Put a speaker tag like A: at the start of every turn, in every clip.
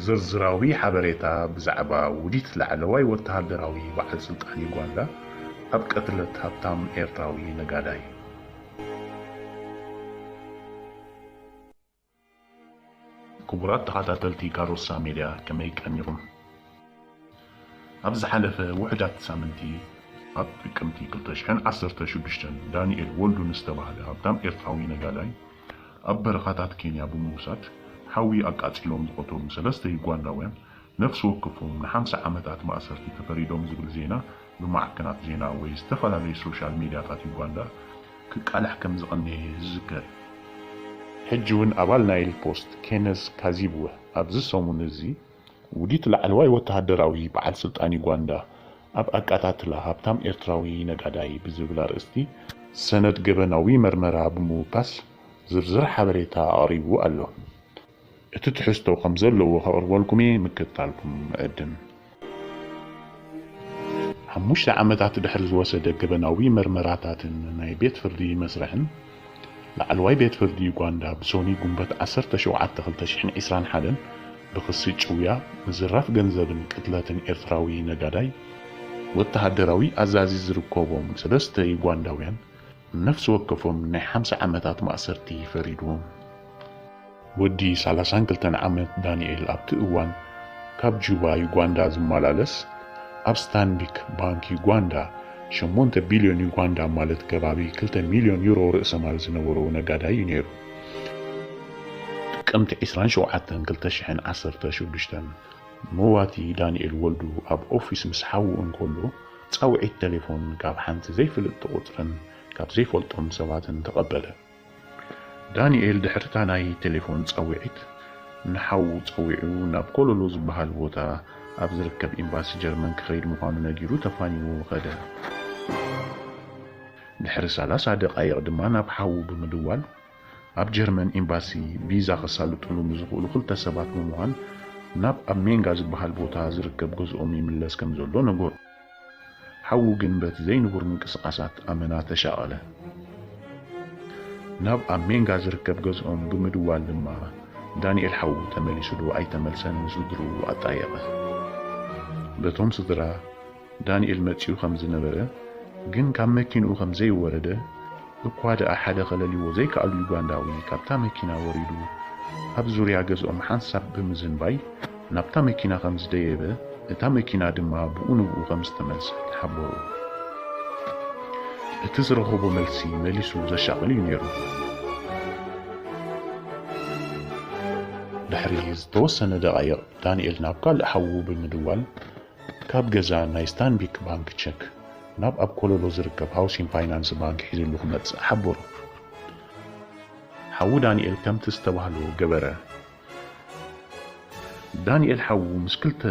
A: ዝርዝራዊ ሓበሬታ ብዛዕባ ውዲት ላዕለዋይ ወተሃደራዊ በዓል ስልጣን ዩጋንዳ ኣብ ቅትለት ሃብታም ኤርትራዊ ነጋዳይ። ክቡራት ተኻታተልቲ ካሮሳ ሜድያ ከመይ ቀኒኹም ኣብ ዝሓለፈ ውሑዳት ኣሳምንቲ ኣብ ጥቅምቲ ክልተ ሽሕን ዓሰርተ ሽዱሽተን ዳኒኤል ወልዱ ንዝተባህለ ሃብታም ኤርትራዊ ነጋዳይ ኣብ በረኻታት ኬንያ ብምውሳድ ሓዊ ኣቃጺሎም ዝቐተሉ ሰለስተ ዩጋንዳውያን ነፍሲ ወከፎም ንሓምሳ ዓመታት ማእሰርቲ ተፈሪዶም ዝብል ዜና ብማዕከናት ዜና ወይ ዝተፈላለዩ ሶሻል ሚድያታት ዩጋንዳ ክቃላሕ ከምዝቐነየ ዝዝከር እዩ። ሕጂ'ውን ኣባል ናይል ፖስት ኬነዝ ካዚብወ ኣብዚ ሰሙን እዚ ውዲት ላዕለዋይ ወተሃደራዊ በዓል ስልጣን ዩጋንዳ ኣብ ኣቃታትላ ሃብታም ኤርትራዊ ነጋዳይ ብዝብል ኣርእስቲ ሰነድ ገበናዊ መርመራ ብምውካስ ዝርዝር ሓበሬታ ኣቕሪቡ ኣሎ። እቲ ትሕዝቶ ከም ዘለዎ ከቕርበልኩም'የ፣ ምክትታልኩም እዕድም። ሓሙሽተ ዓመታት ድሕሪ ዝወሰደ ገበናዊ መርመራታትን ናይ ቤት ፍርዲ መስርሕን፣ ላዕለዋይ ቤት ፍርዲ ዩጋንዳ ብሶኑይ ጉንበት ዓሰርተ ሸውዓተ ክልተ ሽሕን ዕስራን ሓደን ብክሲ ጭውያ፣ ምዝራፍ ገንዘብን ቅትለትን ኤርትራዊ ነጋዳይ፣ ወተሃደራዊ ኣዛዚ ዝርከቦም ሰለስተ ዩጋንዳውያን ነፍሲ ወከፎም ናይ ሓምሳ ዓመታት ማእሰርቲ ፈሪድዎም። ወዲ ሰላሳን ክልተን ዓመት ዳኒኤል ኣብቲ እዋን ካብ ጁባ ዩጋንዳ ዝመላለስ ኣብ ስታንቢክ ባንክ ዩጋንዳ ሸሞንተ ቢልዮን ዩጋንዳ ማለት ከባቢ ክልተ ሚልዮን ዩሮ ርእሰ ማል ዝነበሮ ነጋዳይ እዩ ነይሩ። ጥቅምቲ ዕስራን ሸውዓተን ክልተ ሽሕን ዓሰርተ ሽዱሽተን መዋቲ ዳኒኤል ወልዱ ኣብ ኦፊስ ምስ ሓዉ እንከሎ ጻውዒት ተሌፎን ካብ ሓንቲ ዘይፍልጥቲ ቁጽርን ካብ ዘይፈልጦም ሰባትን ተቐበለ። ዳኒኤል ድሕሪታ ናይ ተሌፎን ጻውዒት ንሓዉ ጸዊዑ ናብ ኮሎሎ ዝበሃል ቦታ ኣብ ዝርከብ ኤምባሲ ጀርመን ክኸይድ ምዃኑ ነጊሩ ተፋኒዉ ከደ። ድሕሪ ሰላሳ ደቓይቕ ድማ ናብ ሓዉ ብምድዋል፣ ኣብ ጀርመን ኤምባሲ ቪዛ ከሳልጡሉ ንዝኽእሉ ክልተ ሰባት ብምዃን ናብ ኣብ ሜንጋ ዝበሃል ቦታ ዝርከብ ገዝኦም ይምለስ ከም ዘሎ ነገሮ። ሓዉ ግን በቲ ዘይንቡር ምንቅስቓሳት ኣመና ተሻቐለ። ናብ ኣብ ሜንጋ ዝርከብ ገዝኦም ብምድዋል ድማ ዳንኤል ሓዉ ተመሊሱዶ ኣይተመልሰን ምስ ስድርኡ ኣጣየቐ። በቶም ስድራ፣ ዳንኤል መጺኡ ከም ዝነበረ ግን ካብ መኪንኡ ከም ዘይወረደ እኳ ደኣ ሓደ ከለልይዎ ዘይከኣሉ ዩጋንዳዊ ካብታ መኪና ወሪዱ ኣብ ዙርያ ገዝኦም ሓንሳብ ብምዝንባይ ናብታ መኪና ከም ዝደየበ እታ መኪና ድማ ብኡ ንብኡ ከም ዝተመልሰት ሓበሩ። እቲ ዝረኸቦ መልሲ መሊሱ ዘሻቕል እዩ ነይሩ። ድሕሪ ዝተወሰነ ደቓይቕ ዳንኤል ናብ ካልእ ሓዉ ብምድዋል ካብ ገዛ ናይ ስታንቢክ ባንክ ቸክ ናብ ኣብ ኮለሎ ዝርከብ ሃውሲን ፋይናንስ ባንክ ሒዝሉ ክመጽእ ሓበሮ። ሓዉ ዳንኤል ከምቲ ዝተባህሎ ገበረ። ዳንኤል ሓዉ ምስ ክልተ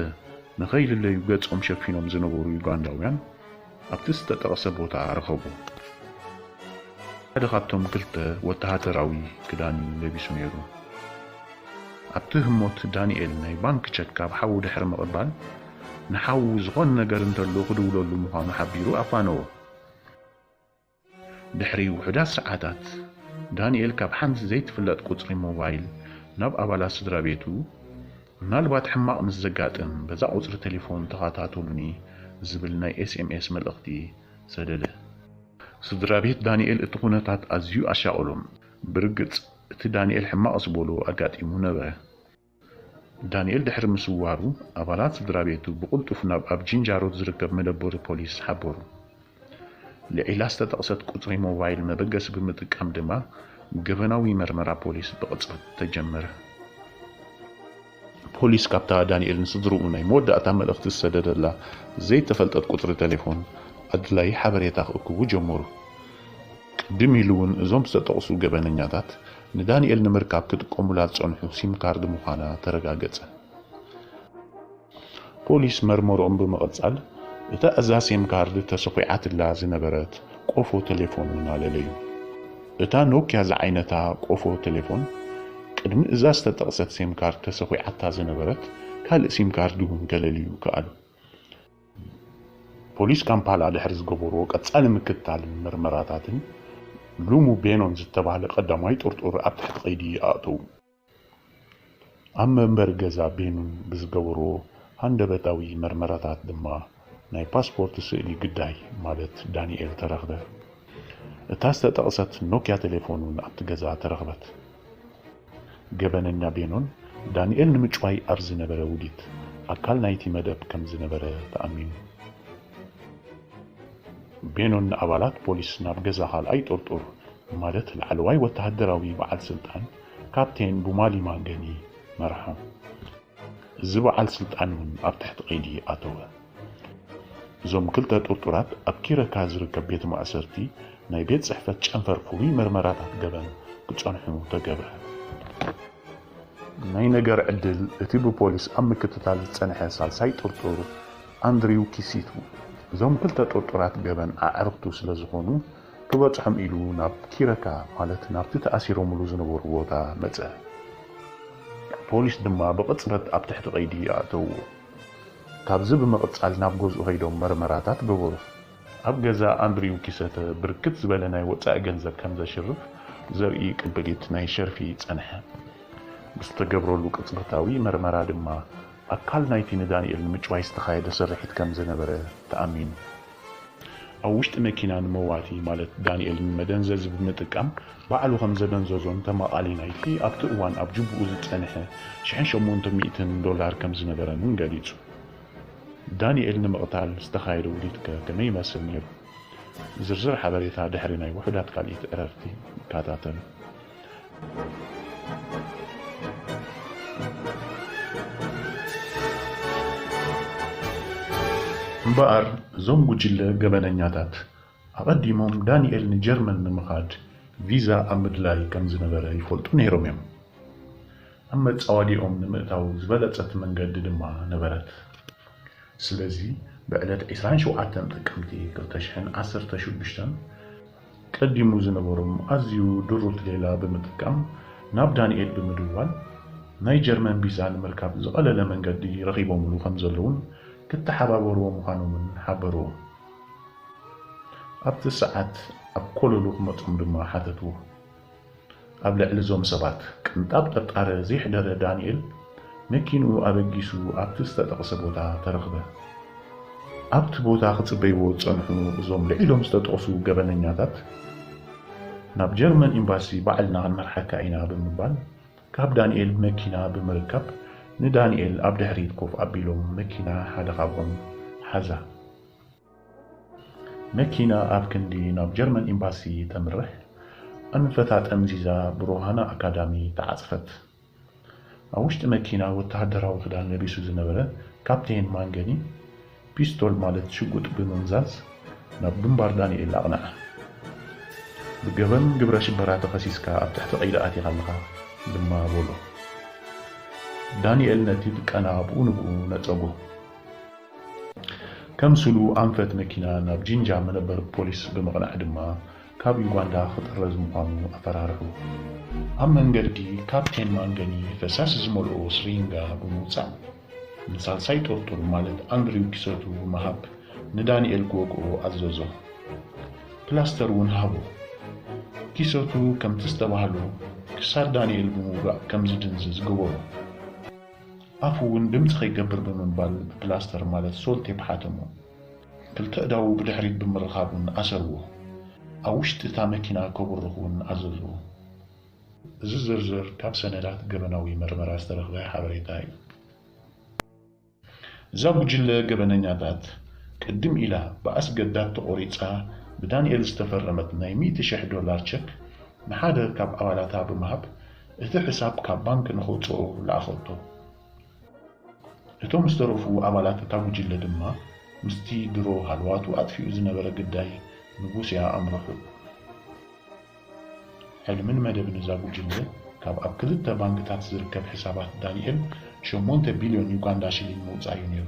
A: ንኸይልለዩ ገጾም ሸፊኖም ዝነበሩ ዩጋንዳውያን፣ ኣብቲ ዝተጠቕሰ ቦታ ረኸቦ። ሓደ ካብቶም ክልተ ወተሃደራዊ ክዳን እዩ ለቢሱ ነይሩ። ኣብቲ ህሞት ዳኒኤል ናይ ባንክ ቸክ ካብ ሓዉ ድሕሪ ምቕባል ንሓዉ ዝኾነ ነገር እንተሎ ክድውለሉ ምዃኑ ሓቢሩ ኣፋነዎ። ድሕሪ ውሑዳት ሰዓታት፣ ዳንኤል ካብ ሓንቲ ዘይትፍለጥ ቁጽሪ ሞባይል ናብ ኣባላት ስድራቤቱ፣ ምናልባት ሕማቕ ምስ ዘጋጥም በዛ ቁጽሪ ተሌፎን ተኸታተሉኒ ዝብል ናይ ኤስኤምኤስ መልእኽቲ ሰደደ። ስድራቤት ዳንኤል እቲ ኩነታት ኣዝዩ ኣሻቐሎም። ብርግጽ፣ እቲ ዳንኤል ሕማቕ ዝበሎ ኣጋጢሙ ነበረ። ዳኒኤል ድሕሪ ምስዋሩ፣ ኣባላት ስድራቤቱ ብቕልጡፍ ናብ ኣብ ጂንጃሮት ዝርከብ መደበሩ ፖሊስ ሓበሩ። ልዒላ ዝተጠቕሰት ቁጽሪ ሞባይል መበገሲ ብምጥቃም ድማ ገበናዊ መርመራ ፖሊስ ብቕጽበት ተጀመረ። ፖሊስ ካብታ ዳኒኤል ንስድርኡ ናይ መወዳእታ መልእኽቲ ዝሰደደላ ዘይተፈልጠት ቁጽሪ ተሌፎን ኣድላዪ ሓበሬታ ክእክቡ ጀመሩ። ቅድም ኢሉ'ውን እዞም ዝተጠቕሱ ገበነኛታት ንዳኒኤል ንምርካብ ክጥቀሙላ ዝጸንሑ ሲም ካርድ ምዃና ተረጋገጸ። ፖሊስ መርመርኦም ብምቕጻል፣ እታ እዛ ሲም ካርድ ተሰዂዓትላ ዝነበረት ቆፎ ተሌፎን'ውን ኣለለዩ። እታ ኖክያ ዝዓይነታ ቆፎ ተሌፎን፣ ቅድሚ እዛ ዝተጠቕሰት ሲም ካርድ ተሰዂዓታ ዝነበረት ካልእ ሲም ካርድ'ውን ከለልዩ ከኣሉ። ፖሊስ ካምፓላ ድሕሪ ዝገበርዎ ቀጻሊ ምክትታልን መርመራታትን፣ ሉሙ ቤኖን ዝተባህለ ቀዳማይ ጥርጡር ኣብ ትሕቲ ቀይዲ ኣእተዉ። ኣብ መንበሪ ገዛ ቤኑን ብዝገበርዎ ሃንደበታዊ መርመራታት ድማ ናይ ፓስፖርት ስእሊ ግዳይ ማለት ዳኒኤል ተረኽበ። እታ ዝተጠቕሰት ኖክያ ቴሌፎን እውን ኣብቲ ገዛ ተረኽበት። ገበነኛ ቤኖን ዳንኤል ንምጭዋይ ኣብ ዝነበረ ውዲት ኣካል ናይቲ መደብ ከም ዝነበረ ተኣሚኑ። ቤኖን ንኣባላት ፖሊስ ናብ ገዛ ካልኣይ ጥርጡር ማለት ላዕለዋይ ወተሃደራዊ በዓል ስልጣን ካፕቴን ቡማሊማ ገኒ መርሖም። እዚ በዓል ስልጣን እውን ኣብ ትሕቲ ቀይዲ ኣተወ። እዞም ክልተ ጥርጡራት ኣብ ኪረካ ዝርከብ ቤት ማእሰርቲ ናይ ቤት ጽሕፈት ጨንፈር ፍሉይ መርመራታት ገበን ክጸንሑ ተገብረ። ናይ ነገር ዕድል እቲ ብፖሊስ ኣብ ምክትታል ዝጸንሐ ሳልሳይ ጥርጡር ኣንድሪው ኪሲቱ እዞም ክልተ ጥርጡራት ገበን ኣዕርኽቱ ስለዝኾኑ ክበጽሖም ኢሉ ናብ ኪረካ ማለት ናብቲ ተኣሲሮምሉ ዝነበሩ ቦታ መጸ። ፖሊስ ድማ ብቕጽበት ኣብ ትሕቲ ቀይዲ ኣእተውዎ። ካብዚ ብምቕጻል ናብ ገዝኡ ከይዶም መርመራታት ገበሩ። ኣብ ገዛ ኣንድሪው ኪሰተ ብርክት ዝበለ ናይ ወጻኢ ገንዘብ ከም ዘሽርፍ ዘርኢ ቅብሊት ናይ ሸርፊ ጸንሐ። ብዝተገብረሉ ቅጽበታዊ መርመራ ድማ ኣካል ናይቲ ንዳንኤል ንምጭዋይ ዝተኻየደ ስርሒት ከም ዝነበረ ተኣሚኑ። ኣብ ውሽጢ መኪና ንመዋቲ ማለት ዳኒኤል ንመደንዘዚ ብምጥቃም ባዕሉ ከም ዘደንዘዞን ተማቓሊ ናይቲ ኣብቲ እዋን ኣብ ጁቡኡ ዝጸንሐ ሽሕን ሸሞንተ ሚእትን ዶላር ከም ዝነበረን እውን ገሊጹ። ዳኒኤል ንምቕታል ዝተኻየደ ውዲትከ ከመይ ይመስል ነይሩ? ዝርዝር ሓበሬታ ድሕሪ ናይ ውሑዳት ካልኢት ዕረፍቲ ንከታተል። እምበኣር እዞም ጉጅለ ገበነኛታት ኣቐዲሞም ዳኒኤል ንጀርመን ንምኻድ ቪዛ ኣብ ምድላይ ከም ዝነበረ ይፈልጡ ነይሮም እዮም። ኣብ መጻወዲያኦም ንምእታው ዝበለጸት መንገዲ ድማ ነበረት። ስለዚ ብዕለት ዕስራን ሸውዓተን ጥቅምቲ ክልተ ሽሕን ዓሰርተ ሽዱሽተን፣ ቀዲሙ ዝነበሮም ኣዝዩ ድሩት ሌላ ብምጥቃም ናብ ዳኒኤል ብምድዋል ናይ ጀርመን ቢዛ ንምርካብ ዝቐለለ መንገዲ ረኺቦምሉ ከምዘለዉን ክተሓባበርዎ ምዃኖምን ሓበርዎም። ኣብቲ ሰዓት ኣብ ኮለሉ ክመጾም ድማ ሓተትዎ። ኣብ ልዕሊ እዞም ሰባት ቅንጣብ ጥርጣረ ዜሕደረ ዳንኤል፣ መኪንኡ ኣበጊሱ ኣብቲ ዝተጠቕሰ ቦታ ተረኽበ። ኣብቲ ቦታ ኺጽበይዎ ዝጸንሑ እዞም ልዒሎም ዝተጠቕሱ ገበነኛታት፣ ናብ ጀርመን ኤምባሲ ባዕልና ኽንመርሓካ ኢና ብምባል፣ ካብ ዳንኤል መኪና ብምርካብ፣ ንዳንኤል ኣብ ድሕሪት ኮፍ ኣቢሎም መኪና ሓደ ኻብኦም ሓዛ። መኪና ኣብ ክንዲ ናብ ጀርመን ኤምባሲ ተምርሕ፣ ኣንፈታ ጠምዚዛ ብሮሃና ኣካዳሚ ተዓጽፈት። ኣብ ውሽጢ መኪና ወተሃደራዊ ክዳን ለቢሱ ዝነበረ ካፕቴን ማንገኒ፣ ፒስቶል ማለት ሽጉጥ ብምምዛዝ ናብ ግንባር ዳንኤል ኣቕንዓ። ብገበን ግብረ ሽበራ ተኸሲስካ ኣብ ትሕቲ ቀይዲ ኣቲኻ ኣለኻ ድማ በሎ። ዳንኤል ነቲ ድቀና ብኡ ንብኡ ነጸጎ። ከም ስሉ ኣንፈት መኪና ናብ ጂንጃ መነበሪ ፖሊስ ብምቕናዕ ድማ ካብ ዩጋንዳ ክጥረዝ ምዃኑ ኣፈራርሑ። ኣብ መንገዲ ካፕቴን ማንገኒ ፈሳሲ ዝመልኦ ስሪንጋ ብምውጻእ ንሳልሳይ ጥርጡር ማለት ኣንድሪው ኪሰቱ ብምሃብ ንዳኒኤል ክወግኦ ኣዘዞ። ፕላስተር እውን ሃቦ። ኪሰቱ ከምቲ ዝተባህሎ ክሳድ ዳኒኤል ብምውጋእ ከም ዝድንዝዝ ገበሮ። ኣፉ እውን ድምጺ ከይገብር ብምባል ብፕላስተር ማለት ሶል ቴፕ ሓተሞ። ክልተ ኣእዳዉ ብድሕሪት ብምርኻብ እውን ኣሰርዎ። ኣብ ውሽጢ እታ መኪና ከብርኽ እውን ኣዘዞ። እዚ ዝርዝር ካብ ሰነዳት ገበናዊ መርመራ ዝተረኽበ ሓበሬታ እዩ። እዛ ጉጅለ ገበነኛታት፣ ቅድም ኢላ ብኣስገዳድ ተቖሪጻ ብዳንኤል ዝተፈረመት ናይ ሚእቲ ሽሕ ዶላር ቸክ ንሓደ ካብ ኣባላታ ብምሃብ እቲ ሕሳብ ካብ ባንክ ንኸውጽኦ ለኣኸቶ። እቶም ዝተረፉ ኣባላት እታ ጉጅለ ድማ ምስቲ ድሮ ሃለዋቱ ኣጥፊኡ ዝነበረ ግዳይ ንቡስያ ኣምርሑ። ሕልምን መደብን እዛ ጉጅለ ካብ ኣብ ክልተ ባንክታት ዝርከብ ሕሳባት ዳኒኤል ሸሞንተ ቢልዮን ዩጋንዳ ሽሊንግ ምውጻእ'ዩ ነይሩ።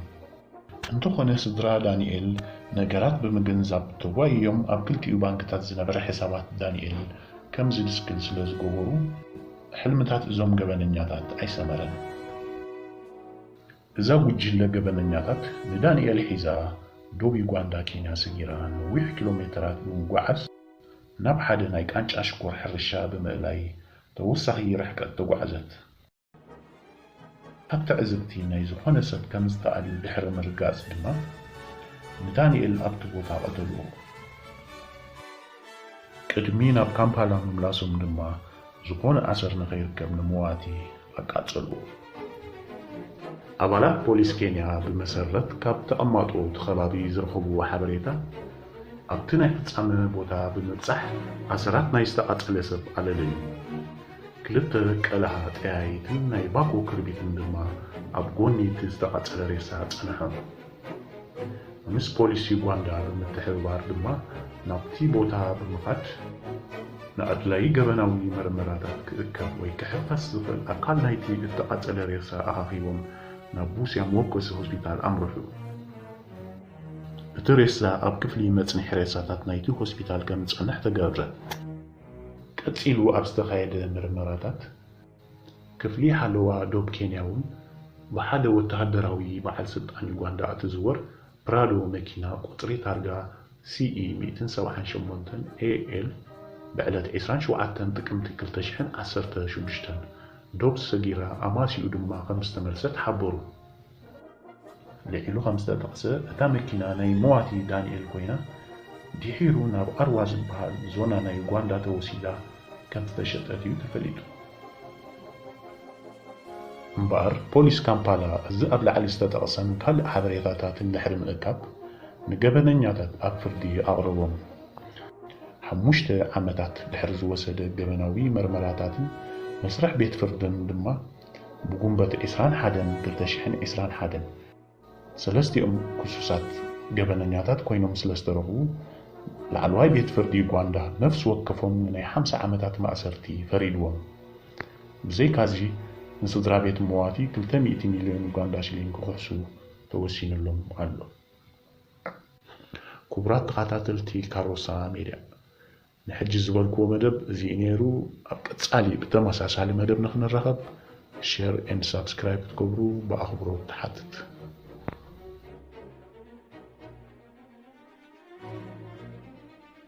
A: እንተኾነ ስድራ ዳኒኤል ነገራት ብምግንዛብ ተጓይዮም ኣብ ክልቲኡ ባንክታት ዝነበረ ሕሳባት ዳኒኤል ከምዝድስክል ስለዝገበሩ ሕልምታት እዞም ገበነኛታት ኣይሰመረን። እዛ ጉጅለ ገበነኛታት ንዳኒኤል ሒዛ ዶብ ዩጋንዳ ኬንያ ሰጊራ ነዊሕ ኪሎሜተራት ብምጉዓዝ ናብ ሓደ ናይ ቃንጫ ሽኮር ሕርሻ ብምእላይ ተወሳኺ ርሕቀት ተጓዕዘት። ካብ ትዕዝብቲ ናይ ዝኾነ ሰብ ከም ዝተኣልዩ ድሕሪ ምርጋጽ ድማ፣ ንዳንኤል ኣብቲ ቦታ ቀተልዎ። ቅድሚ ናብ ካምፓላ ምምላሶም ድማ፣ ዝኾነ ኣሰር ንኸይርከብ ንመዋቲ ኣቃጸልዎ። ኣባላት ፖሊስ ኬንያ ብመሰረት ካብ ተቐማጦ እቲ ከባቢ ዝረኸብዎ ሓበሬታ፣ ኣብቲ ናይ ፍጻመ ቦታ ብምብጻሕ ኣሰራት ናይ ዝተቓጸለ ሰብ ኣለለዩ። ክልተ ቀልዓ ጠያይትን ናይ ባኮ ክርቢትን ድማ ኣብ ጎኒ እቲ ዝተቓጸለ ሬሳ ጸንሖም። ምስ ፖሊስ ዩጋንዳ ብምትሕብባር ድማ ናብቲ ቦታ ብምኻድ፣ ንኣድላዪ ገበናዊ መርመራታት ክእከብ ወይ ክሕፈስ ዝኽእል ኣካል ናይቲ እተቓጸለ ሬሳ ኣኻኺቦም ናብ ቡስያ መወከሲ ሆስፒታል ኣምርሑ። እቲ ሬሳ ኣብ ክፍሊ መጽንሒ ሬሳታት ናይቲ ሆስፒታል ከም ዝጸንሕ ተገብረ። ቀጺሉ ኣብ ዝተኻየደ ምርመራታት፣ ክፍሊ ሓለዋ ዶብ ኬንያ'ውን ብሓደ ወተሃደራዊ በዓል ስልጣን ዩጋንዳ እትዝወር ፕራዶ መኪና ቁጽሪ ታርጋ CE ሚእትን ሰብዓን ሸሞንተን AL ብዕለት ዕስራን ሸውዓተን ጥቅምቲ ክልተ ሽሕን ዓሰርተ ሽዱሽተን ዶብ ሰጊራ ኣማስይኡ ድማ ከምዝተመልሰት ሓበሩ። ልዒሉ ከምዝተጠቕሰ፣ እታ መኪና ናይ መዋቲ ዳኒኤል ኮይና ድሒሩ ናብ ኣርዋ ዝበሃል ዞና ናይ ዩጋንዳ ተወሲዳ ከምዝተሸጠት እዩ ተፈሊጡ። እምበኣር ፖሊስ ካምፓላ እዚ ኣብ ላዕሊ ዝተጠቕሰን ካልእ ሓበሬታታትን ድሕሪ ምእካብ ንገበነኛታት ኣብ ፍርዲ ኣቕረቦም። ሓሙሽተ ዓመታት ድሕሪ ዝወሰደ ገበናዊ መርመራታትን መስርሕ ቤት ፍርድን ድማ፣ ብጉንበት ዕስራን ሓደን ክልተ ሽሕን ዕስራን ሓደን ሰለስቲኦም ክሱሳት ገበነኛታት ኮይኖም ስለዝተረኽቡ ላዕለዋይ ቤት ፍርዲ ዩጋንዳ ነፍሲ ወከፎም ንናይ ሓምሳ ዓመታት ማእሰርቲ ፈሪድዎም። ብዘይካዚ ንስድራ ቤት መዋቲ ክልተ ሚእቲ ሚልዮን ዩጋንዳ ሽሊንግ ክኽሕሱ ተወሲንሎም ኣሎ። ክቡራት ተኻታተልቲ ካሮሳ ሜድያ ንሕጂ ዝበልክዎ መደብ እዚ'ዩ ነይሩ። ኣብ ቀጻሊ ብተመሳሳሊ መደብ ንኽንራኸብ ሼር ኤንድ ሳብስክራይብ ክትገብሩ ብኣኽብሮት ትሓትት።